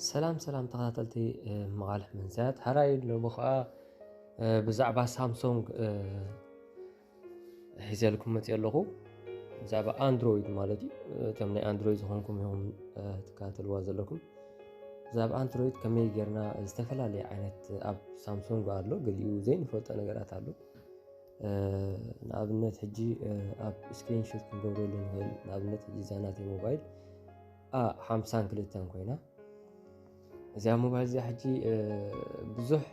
ሰላም ሰላም ተኸታተልቲ መቓልሕ መንሰያት ሓራይ ሎሚ ከዓ ብዛዕባ ሳምሶንግ ሒዘልኩም መፅኦ ኣለኹ ብዛዕባ ኣንድሮይድ ማለት እዩ እቶም ናይ ኣንድሮይድ ዝኾንኩም ኢኹም ትከታተልዋ ዘለኩም ብዛዕባ ኣንድሮይድ ከመይ ጌርና ዝተፈላለየ ዓይነት ኣብ ሳምሶንግ ኣሎ ገሊኡ ዘይንፈልጦ ነገራት ኣሎ ንኣብነት ሕጂ ኣብ ስክሪንሾት ክንገብረሉ ንኽእል ንኣብነት ሕጂ እዛ ናተይ ሞባይል ሓምሳን ክልተን ኮይና እዚኣ ሞባይል እዚኣ ሕጂ ብዙሕ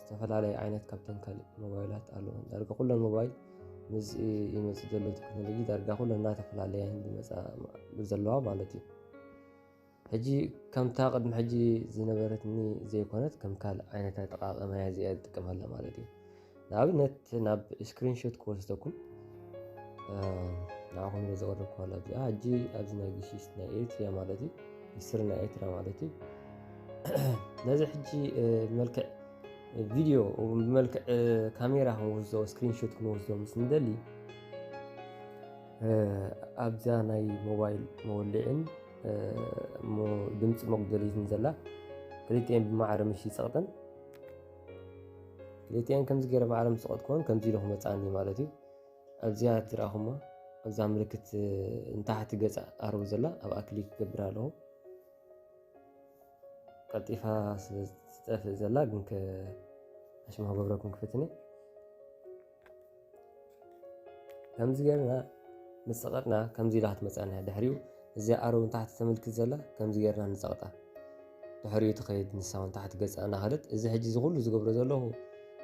ዝተፈላለየ ዓይነት ካብተን ካልእ ሞባይላት ኣለዎ ዳርጋ ኩለን ሞባይል ምስ ይመፅእ ዘሎ ቴክኖሎጂ ዳርጋ ኩለን እናተፈላለያ ዝመፃ ዘለዋ ማለት እዩ ሕጂ ከምታ ቅድሚ ሕጂ ዝነበረትኒ ዘይኮነት ከም ካልእ ዓይነት ኣጠቃቅማ እያ እዚኣ ዝጥቀመላ ማለት እዩ ንኣብነት ናብ ስክሪንሾት ክወስደኩም ንዓኹም ዘቕርብ ክዋላ እዚኣ ሕጂ ኣብዚ ናይ ግሽሽ ናይ ኤሪትሪያ ማለት እዩ ሂስትሪ ናይ ኤርትራ ማለት እዩ ነዚ ሕጂ መልክዕ ቪድዮ ብመልክዕ ካሜራ ክንወስዶ ስክሪንሾት ክንወስዶ ምስ ንደሊ ኣብዛ ናይ ሞባይል መወልዕን ድምፂ መጉደሊትን ዘላ ክልቲኤን ብማዕረ ምሽ ይፀቕጠን ክልቲኣን ከምዚ ገይረ ባዕሎም ዝሰቐጥኩወን ከምዚ ኢሉ ክመፅኣኒ ማለት እዩ ኣብዚኣ ትረኣኹሞ እዛ ምልክት ንታሕቲ ገፅ ኣርቡ ዘላ ኣብኣ ክሊክ ክገብር ኣለኹ ቀልጢፋ ስለዝጠፍእ ዘላ ግን ኣሽማ ክገብረኩም ክፍትኒ ከምዚ ጌርና ምስ ጸቐጥና ከምዚ ኢላ ክትመጽኣና ድሕሪኡ እዚኣ ኣረውን ታሕቲ ተመልክት ዘላ ከምዚ ጌርና ንጸቕጣ ድሕሪኡ ትኸይድ ንሳ እውን ታሕቲ ገጻ እናኸደት እዚ ሕጂ እዚ ኩሉ ዝገብሮ ዘለኹ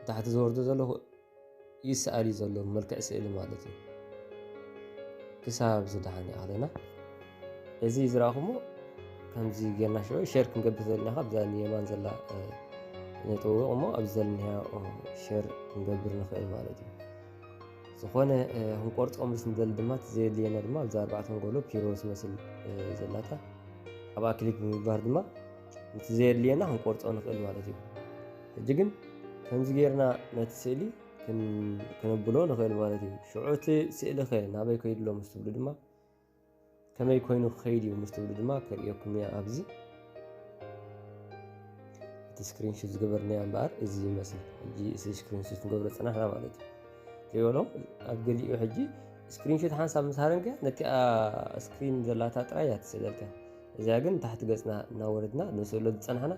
ታሕቲ ዝወርዶ ዘለኹ ይስኣል እዩ ዘሎ መልክዕ ስእሊ ማለት እዩ ክሳብ ዝደሓን ይኣለና እዚ ዝረኣኹሞ ከምዚ ጌርና ሸ ሸር ክንገብር ዘለና ካብ እዛ ንየማን ዘላ ነጥውቕ እሞ ኣብዚ ዘለና ሸር ክንገብር ንኽእል ማለት እዩ ዝኾነ ክንቆርፆም ምስ ንደሊ ድማ እቲ ዘየድልየና ድማ ኣብዚ ኣርባዕተ ንጎሎ ፒሮ ዝመስል ዘላታ ኣብኣ ክሊክ ብምግባር ድማ እቲ ዘየድልየና ክንቆርፆ ንኽእል ማለት እዩ ሕጂ ግን ከምዚ ጌርና ነቲ ስእሊ ክንብሎ ንኽእል ማለት እዩ ሽዑ እቲ ስእሊ ኸ ናበይ ከይድሎ ምስ ትብሉ ድማ ከመይ ኮይኑ ክኸይድ እዩ ምስ ትብሉ ድማ ከርእየኩም እያ ኣብዚ እቲ ስክሪንሹት ዝገበርናያ እምበኣር እዚ ይመስል ሕጂ እዚ ስክሪንሹት ንገብሮ ፅናሕና ማለት እዩ ከይበሎ ኣብ ገሊኡ ሕጂ ስክሪንሹት ሓንሳብ ምስ ሃረንከ ነቲኣ ስክሪን ዘላታ ጥራይ እያ ትስእለልካ እዚያ ግን ታሕቲ ገፅና እናወረድና ንስእሎ ዝፀናሕና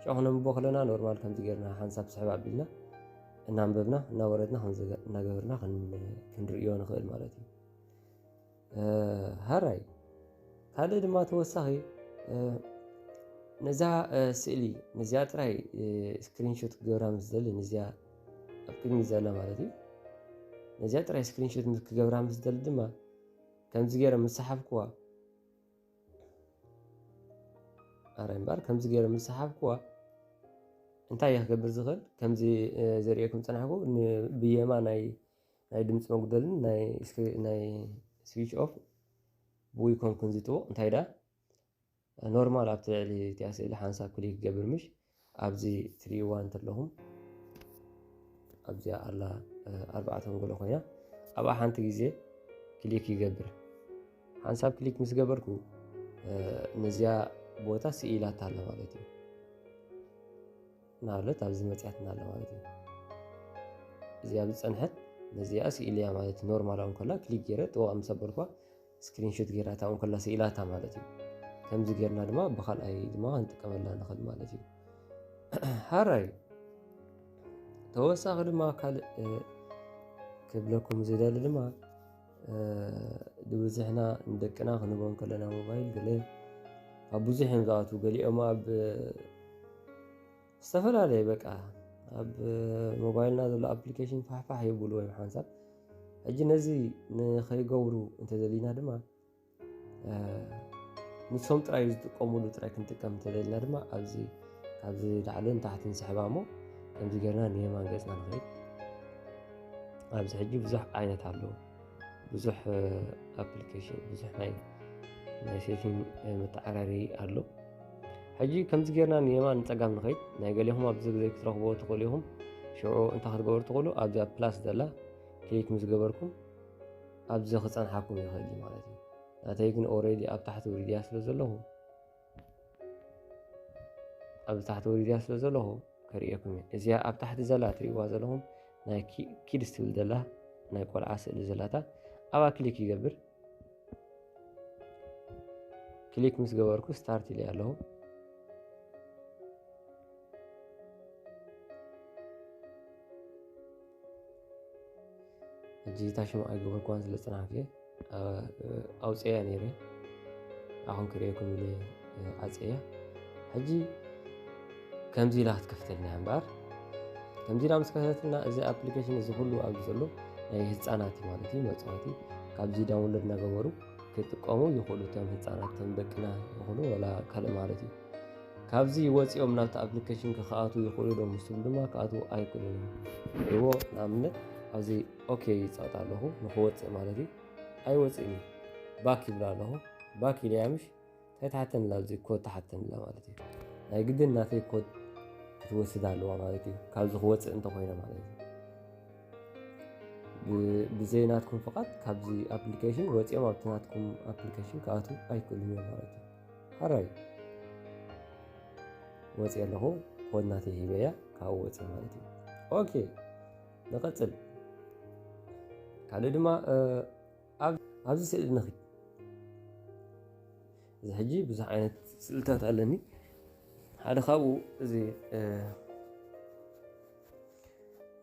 ሸ ክነንብቦ ከለና ኖርማል ከምዚ ገርና ሓንሳብ ስሕብ ኣቢልና እናንበብና እናወረድና እናገበርና ክንርእዮ ንኽእል ማለት እዩ ሃራይ ካልእ ድማ ተወሳኺ ነዛ ስእሊ ነዚኣ ጥራይ ስክሪንሾት ክገብራ ምስ ደሊ ነዚኣ ኣብ ቅድሚ ዘላ ማለት እዩ ነዚኣ ጥራይ ስክሪንሾት ምስ ክገብራ ምስ ደሊ ድማ ከምዚ ገይረ ምስ ሰሓብክዋ ኣረ እምበር ከምዚ ገይረ ምስ ሰሓብክዋ እንታይ እየ ክገብር ዝኽእል ከምዚ ዘርእየኩም ፀናሕኩ ብየማ ናይ ናይ ድምጺ መጉደልን ናይ ናይ ስዊች ኦፍ ብኡይ ኮንኩን ዝጥዎ እንታይ ደኣ ኖርማል ኣብቲ ልዕሊ እቲኣ ስእሊ ሓንሳብ ክሊክ ገብር ምሽ ኣብዚ ትሪእዋ እንተለኹም ኣብዚኣ ኣላ ኣርባዕተ መንጎሎ ኮይና ኣብኣ ሓንቲ ግዜ ክሊክ ይገብር ሓንሳብ ክሊክ ምስ ገበርኩ ነዚኣ ቦታ ስኢላታ ኣላ ማለት እዩ ናብለት ኣብዚ መፅያትና ኣለ ማለት እዩ እዚ ኣብዚ ፀንሐት ነዚኣ ስኢልያ ማለት እዩ ኖርማል እውን ከላ ክሊክ ገይረ ጥዋቅ ምስ ኣበልኳ ስክሪንሾት ገይራታ እውን ከላ ስኢላታ ማለት እዩ ከምዚ ገይርና ድማ ብካልኣይ ድማ ክንጥቀመላ ንኽእል ማለት እዩ ሓራይ ተወሳኺ ድማ ካልእ ክብለኩም ዝደሊ ድማ ድብዝሕና ንደቅና ክንቦ ከለና ሞባይል ገለ ኣብ ብዙሕ እዮም ዝኣትዉ ገሊኦም ኣብ ዝተፈላለየ በቃ ኣብ ሞባይልና ዘሎ ኣፕሊኬሽን ፋሕፋሕ የብሉ ወይም ሓንሳብ ሕጂ ነዚ ንኸይገብሩ እንተደሊና ድማ ንሶም ጥራይ ዝጥቀምሉ ጥራይ ክንጥቀም እንተዘይልና ድማ ኣብዚ ካብዚ ላዕልን ታሕትን ስሕባ እሞ ከምዚ ጌርና ንየማን ገፅና ንኸይድ ኣብዚ ሕጂ ብዙሕ ዓይነት ኣለዎ ብዙሕ ኣፕሊኬሽን ብዙሕ ናይ ናይ ሴቲንግ መተዓራሪ ኣሎ ሕጂ ከምዚ ጌርና ንየማን ንፀጋም ንኸይድ ናይ ገሌኹም ኣብዚ ግዜ ክትረኽቦ ትኽእሉ ኢኹም ሽዑ እንታይ ክትገበሩ ትኽእሉ ኣብዛ ፕላስ ዘላ ክሊክ ምስ ገበርኩም ኣብዚ ክጸንሓኩም ይኽእል እዩ ማለት እዩ ናተይ ግን ኦረዲ ኣብ ታሕቲ ውሪድያ ስለ ዘለኹ ኣብዚ ታሕቲ ውሪድያ ስለ ዘለኹ ከርእየኩም እየ እዚኣ ኣብ ታሕቲ ዘላ ትርእዋ ዘለኹም ናይ ኪድስ ትብል ዘላ ናይ ቆልዓ ስእሊ ዘላታ ኣብኣ ክሊክ ይገብር ክሊክ ምስ ገበርኩ ስታርት ኢለ ኣለኹ ሕጂ እታ ሽም ኣይገበርክዋን ስለ ዝጸናሕኩ እየ ኣውፅኤያ ነይረ ኣኹም ክርእየኩም ኢለ ኣፅኤያ ሕጂ ከምዚ ኢላ ክትከፍተልና እያ እምበኣር ከምዚ ኢላ ምስ ከፈተትና እዚ ኣፕሊኬሽን እዚ ኩሉ ኣብዚ ዘሎ ናይ ህፃናት እዩ ማለት እዩ መፅዋቲ ካብዚ ዳውንሎድ እናገበሩ ክጥቀሙ ይኽእሉ እቶም ህፃናት እቶም ደቅና ይኹኑ ወላ ካልእ ማለት እዩ ካብዚ ወጺኦም ናብቲ ኣፕሊኬሽን ክክኣትዉ ይኽእሉ ዶ ምስ ትብሉ ድማ ክኣትዉ ኣይክእሉን እዮም ሪእዎ ንኣብነት ኣብዚ ኦኬ ይጸቕጥ ኣለኹ ንክወጽእ ማለት እዩ ኣይወጽእን እዩ ባክ ይብላ ኣለኹ ባክ ኢለያ ምሽ እንታይ ትሓተኒ ኣላ ኣብዚ ኮድ ትሓተኒ ኣላ ማለት እዩ ናይ ግድን ናተይ ኮድ ክትወስድ ኣለዋ ማለት እዩ ካብዚ ክወጽእ እንተኮይነ ማለት እዩ ብዘይ ናትኩም ፍቓድ ካብዚ ኣፕሊኬሽን ወጺኦም ኣብቲ ናትኩም ኣፕሊኬሽን ክኣትዉ ኣይክእሉን እዮም ማለት እዩ ሐራይ ወፅየ ኣለኹ ኮድ ናተይ ሂበያ ካብኡ ወፅየ ማለት እዩ ኦኬ ንቐፅል ካልእ ድማ ኣብዚ ስእሊ ንኺ እዚ ሕጂ ብዙሕ ዓይነት ስእልታት ኣለኒ ሓደ ካብኡ እዚ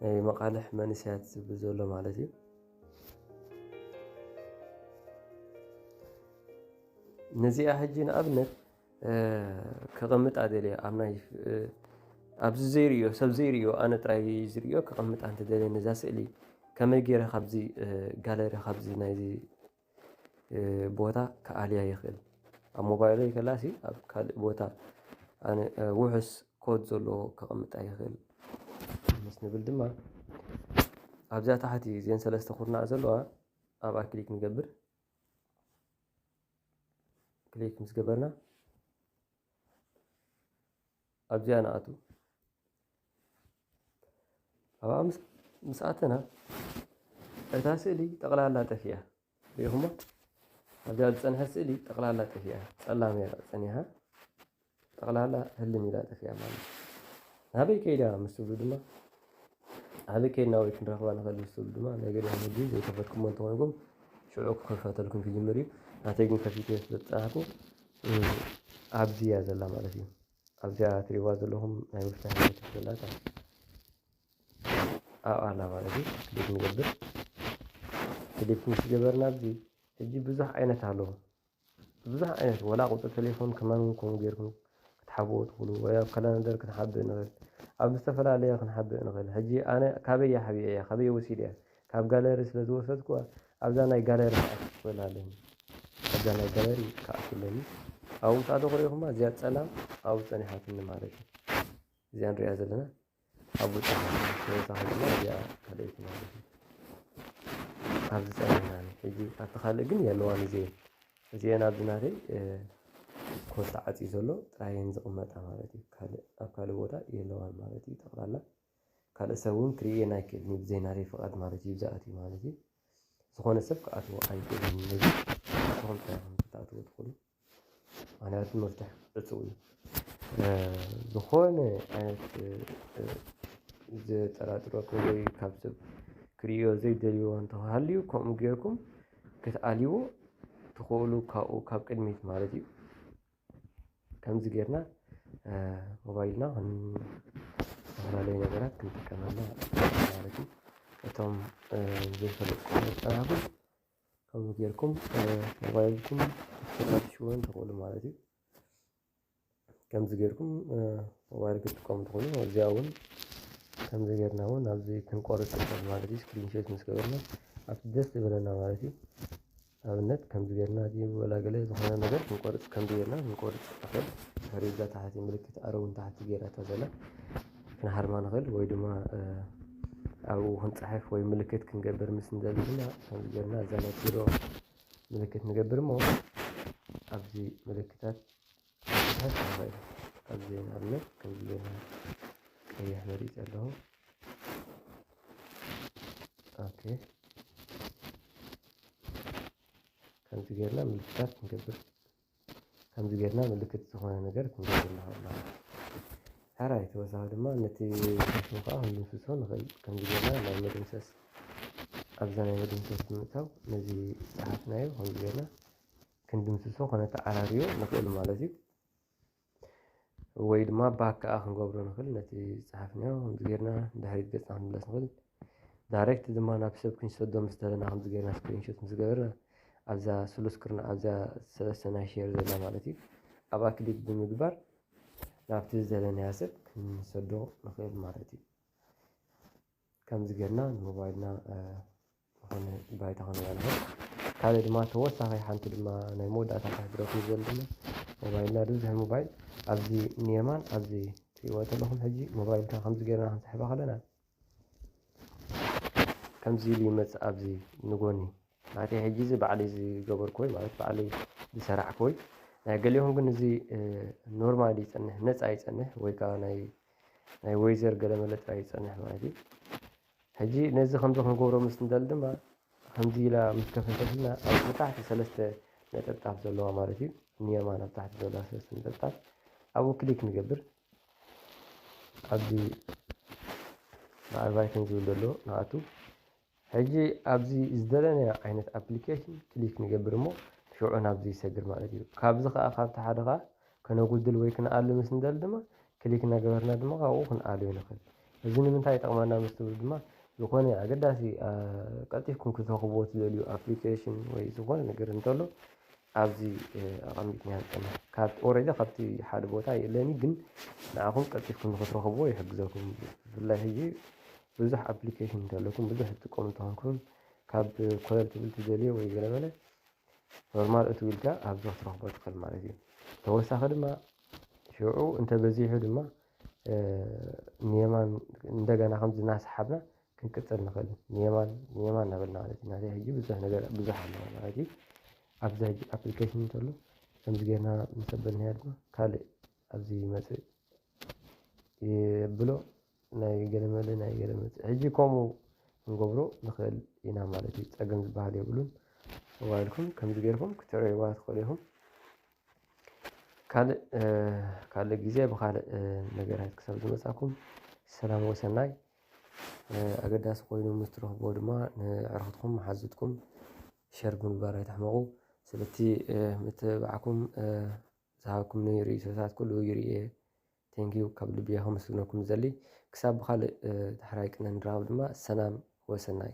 ናይ መቓልሕ መንእሰያት ዝብል ዘሎ ማለት እዩ ነዚኣ ሕጂ ንኣብነት ከቐምጣ ደልየ ኣብ ናይ ኣብዚ ዘይርዮ ሰብ ዘይርዮ ኣነ ጥራይ ዝርዮ ከቐምጣ እንተደልየ ነዛ ስእሊ ከመይ ገይረ ካብዚ ጋለሪ ካብዚ ናይዚ ቦታ ክኣልያ ይኽእል ኣብ ሞባይለይ ከላሲ ኣብ ካልእ ቦታ ኣነ ውሑስ ኮድ ዘለዎ ከቐምጣ ይኽእል። ምስ ንብል ድማ ኣብዛ ታሕቲ እዘን ሰለስተ ኩርናዕ ዘለዋ ኣብኣ ክሊክ ንገብር። ክሊክ ምስ ገበርና ኣብዚኣ ንኣቱ። ኣብኣ ምስ ምስ ኣተና እታ ስእሊ ጠቕላላ ጠፊኣ ሪኢኹሞ ኣብዛ ዝፀንሐት ስእሊ ጠቕላላ ጠፊኣ ፀላም እያ ፀኒሓ ጠቕላላ ህልም ኢላ ጠፊኣ ማለት እዩ ናበይ ከይዳ ምስ ትብሉ ድማ ኣበይ ከይድና ወይ ክንረኽባ ንኽእል ምስ ትብሉ ድማ ናይ ገለ መዲ ዘይከፈትኩሞ እንተኾንኩም ሽዑ ክኸፈተልኩም ክጅምር እዩ ናተይ ግን ከፊተ ስለዝፀናሕኩ ኣብዚ እያ ዘላ ማለት እዩ ኣብዚኣ ትሪእዋ ዘለኹም ናይ ምፍታሕ ሂወት ዘላታ ኣብኣ ኣላ ማለት እዩ ክሊክ ንገብር ክሊክ ምስ ገበርና ኣብዚ ሕጂ ብዙሕ ዓይነት ኣሎ ብዙሕ ዓይነት ወላ ቁፅሪ ቴሌፎን ከማን ከምኡ ጌርኩም ክትሓብኡ ትኽእሉ ወይ ኣብ ካላንደር ክንሓብእ ንኽእል ኣብ ዝተፈላለየ ክንሓብእ ንኽእል ሕጂ ኣነ ካበይ ሓቢኤያ ካበይ ወሲደያ ካብ ጋለሪ ስለ ዝወሰድኩዋ ኣብዛ ናይ ጋለሪ ክኣቱ ክኽእል ኣለኒ ኣብዛ ናይ ጋለሪ ክኣቱ ኣለኒ ኣብኡ ምስ ኣተኹ ርኢኹማ እዚኣ ጸላም ኣብኡ ጸኒሓትኒ ማለት እዩ እዚኣ ንሪኣ ዘለና ኣብኡ ጸኒሓትኒ ተወሳኺ ድማ እዚኣ ካልኣይቲ ማለት እዩ ኣብዚ ጸኒሕናኒ ሕጂ ኣብቲ ካልእ ግን የለዋን እዚኤን እዚኤን ኣብዚ ናተይ ኮድ ተዓፅዩ ዘሎ ጥራየን ዝቕመጣ ማለት እዩ ካልእ ኣብ ካልእ ቦታ የለዋን ማለት እዩ ጠቕላላ ካልእ ሰብ ውን ክርእየን ኣይክእልን እዩ ብዘይ ናተይ ፍቃድ ማለት እዩ ዝኣትዩ ማለት እዩ ዝኾነ ሰብ ክኣትዎ ኣይክእልን እዩ ንስኹም ጥራይ ኢኹም ክትኣትዉ ትኽእሉ ምኽንያቱ መፍትሕ ዕጹው እዩ ዝኾነ ዓይነት ዘጠራጥረኩም ወይ ካብ ሰብ ክርእዮ ዘይደልይዎ እንተሃልዩ ከምኡ ጌርኩም ክትኣልይዎ ትኽእሉ ካብኡ ካብ ቅድሚት ማለት እዩ። ከምዚ ጌርና ሞባይልና ዝተፈላለዩ ነገራት ክንጥቀመሉ ማለት እዩ። እቶም ዘይፈልጡ መፀባበቂ ከምኡ ጌርኩም ሞባይልኩም ክትፈትሽዎን ትኽእሉ ማለት እዩ። ከምዚ ጌርኩም ሞባይል ክትጥቀሙ ትኽእሉ እዚኣ እውን ከምዚ ጌርና እውን ኣብዚ ክንቆርፅ ንኽእል ማለት እዩ። ስክሪን ሹት ምስ ገበርና ኣብቲ ደስ ዝበለና ማለት እዩ። ኣብነት ከምዚ ጌርና እዚ ወላ ገለ ዝኾነ ነገር ክንቆርጽ ከምዚ ጌርና ክንቆርጽ ንኽእል ኸሪዛ ታሕቲ ምልክት ኣረው ንታሕቲ ጌራታ ዘላ ክንሃርማ ንኽእል ወይ ድማ ኣብኡ ክንጽሕፍ ወይ ምልክት ክንገብር ምስ ንደሊ ድማ ከምዚ ጌርና እዛ ናይ ኪሎ ምልክት ንገብር እሞ ኣብዚ ምልክታት ኣዚና ኣሎ ከምዚና ቀይሕ መሪጸ ኣለኹ ኦኬ ከምዚ ጌርና ምልክታት ክንገብር ከምዚ ጌርና ምልክት ዝኾነ ነገር ክንገብር ንኽእል ኢና ሓራይ ተወሳኺ ድማ ነቲ ሸሽሙ ከዓ ክንድምስሶ ንኽእል ከምዚ ጌርና ናይ መደምሰስ ኣብዛ ናይ መደምሰስ ብምእታው ነዚ ዝጸሓፍናዮ ከምዚ ጌርና ክንድምስሶ ከነተዓራርዮ ንኽእል ማለት እዩ። ወይ ድማ ባክ ከዓ ክንገብሮ ንኽእል ነቲ ዝፀሓፍናዮ ከምዚ ጌርና ንድሕሪት ገፅና ክንምለስ ንኽእል ዳይሬክት ድማ ናብ ሰብ ክንሰዶ ምስ ደለና ከምዚ ጌርና ስክሪንሾት ምስ ገበርና ኣብዛ ስሉስ ክርና ኣብዛ ሰለስተ ናይ ሼር ዘላ ማለት እዩ ኣብኣ ክሊክ ብምግባር ናብቲ ዝደለናዮ ሰብ ክንሰዶ ንኽእል ማለት እዩ። ከምዚ ጌርና ንሞባይልና ዝኾነ ባይታ ክንበልዕ ካልእ ድማ ተወሳኺ ሓንቲ ድማ ናይ መወዳእታ ክሕብረኩም ዝደሊ ድማ ሞባይልና ድብዝሕ ሞባይል ኣብዚ ንየማን ኣብዚ ትሪእዋ ዘለኹም ሕጂ ሞባይልካ ከምዚ ጌርና ክንስሕባ ከለና ከምዚ ኢሉ ይመጽእ ኣብዚ ንጎኒ ማለተይ ሕጂ እዚ ባዕለይ ዝገበርክዎይ ማለት ባዕለይ ዝሰራሕክዎይ ናይ ገሊኦም ግን እዚ ኖርማል ይጸንሕ ነጻ ይጸንሕ ወይ ከዓ ናይ ናይ ወይዘር ገለመለ ጥራይ ይጸንሕ ማለት እዩ ሕጂ ነዚ ከምዚ ክንገብሮ ምስ ንደሊ ድማ ከምዚ ኢላ ምስ ከፈተትና ኣብ ታሕቲ ሰለስተ ነጠብጣብ ዘለዋ ማለት እዩ ንየማን ኣብ ታሕቲ ዘለዋ ሰለስተ ነጠብጣብ ኣብኡ ክሊክ ንገብር ኣብዚ በዓል ቫይክን ዝብል ዘሎ ንኣቱ ሕጂ ኣብዚ ዝደለናዮ ዓይነት ኣፕሊኬሽን ክሊክ ንገብር እሞ ሽዑ ናብዚ ይሰግር ማለት እዩ ካብዚ ከዓ ካብቲ ሓደ ከዓ ከነጉድል ወይ ክንኣሉ ምስ ንደሊ ድማ ክሊክ እናገበርና ድማ ካብኡ ክንኣልዮ ንኽእል። እዚ ንምንታይ ይጠቕመና ምስ ትብሉ ድማ ዝኾነ ኣገዳሲ ቀልጢፍኩም ክትረኽብዎ እትደልዩ ኣፕሊኬሽን ወይ ዝኾነ ነገር እንተሎ ኣብዚ ኣቐሚጥናዮ ኣለና። ካብ ኦረዲ ካብቲ ሓደ ቦታ የለን እዩ ግን ንዓኹም ቀልጢፍኩም ንኽትረኽብዎ ይሕግዘኩም። ብፍላይ ሕጂ ብዙሕ ኣፕሊኬሽን እንተለኩም ብዙሕ ትጥቀሙ እንተ ኾንኩም ካብ ኮለል ትብል ትደልዮ ወይ ገለ በለ ኖርማል እትው ኢልካ ኣብዚ ክትረኽቦ ትኽእል ማለት እዩ ተወሳኺ ድማ ሽዑ እንተበዚሑ ድማ ንየማን እንደገና ከምዚ እናሰሓብና ክንቅፅል ንኽእል ንየማን ንየማን እናበልና ማለት እዩ ናተይ ሕጂ ብዙሕ ነገር ብዙሕ ኣለዎ ማለት እዩ ኣብዚ ሕጂ ኣፕሊኬሽን እንተሎ ከምዚ ጌርና ምስ ኣበልናዮ ድማ ካልእ ኣብዚ ይመፅእ የብሎ ናይ ገለ መለ ናይ ገለ መጽ ሕጂ ከምኡ ክንገብሮ ንኽእል ኢና ማለት እዩ ጸገም ዝበሃል የብሉን ሞባይልኩም ከምዚ ጌርኩም ክትዕረይዋ ትኽእሉ ኢኹም ካልእ ካልእ ግዜ ብኻልእ ነገራት ክሳብ ዝመጻኩም ሰላም ወሰናይ ኣገዳሲ ኮይኑ ምስ ትረኽብዎ ድማ ንዕርኽትኩም መሓዙትኩም ሸር ብምግባር ኣይትሕመቑ ስለቲ ምትብባዕኩም ዝሃብኩምኒ ርእይቶታት ኩሉ ይርእየ Thank you ካብ ልቢ እየ ከመስግነኩም ዝደሊ ክሳብ ብካልእ ዳሕራይ ቅነ ንራከብ ድማ ሰላም ወሰናይ።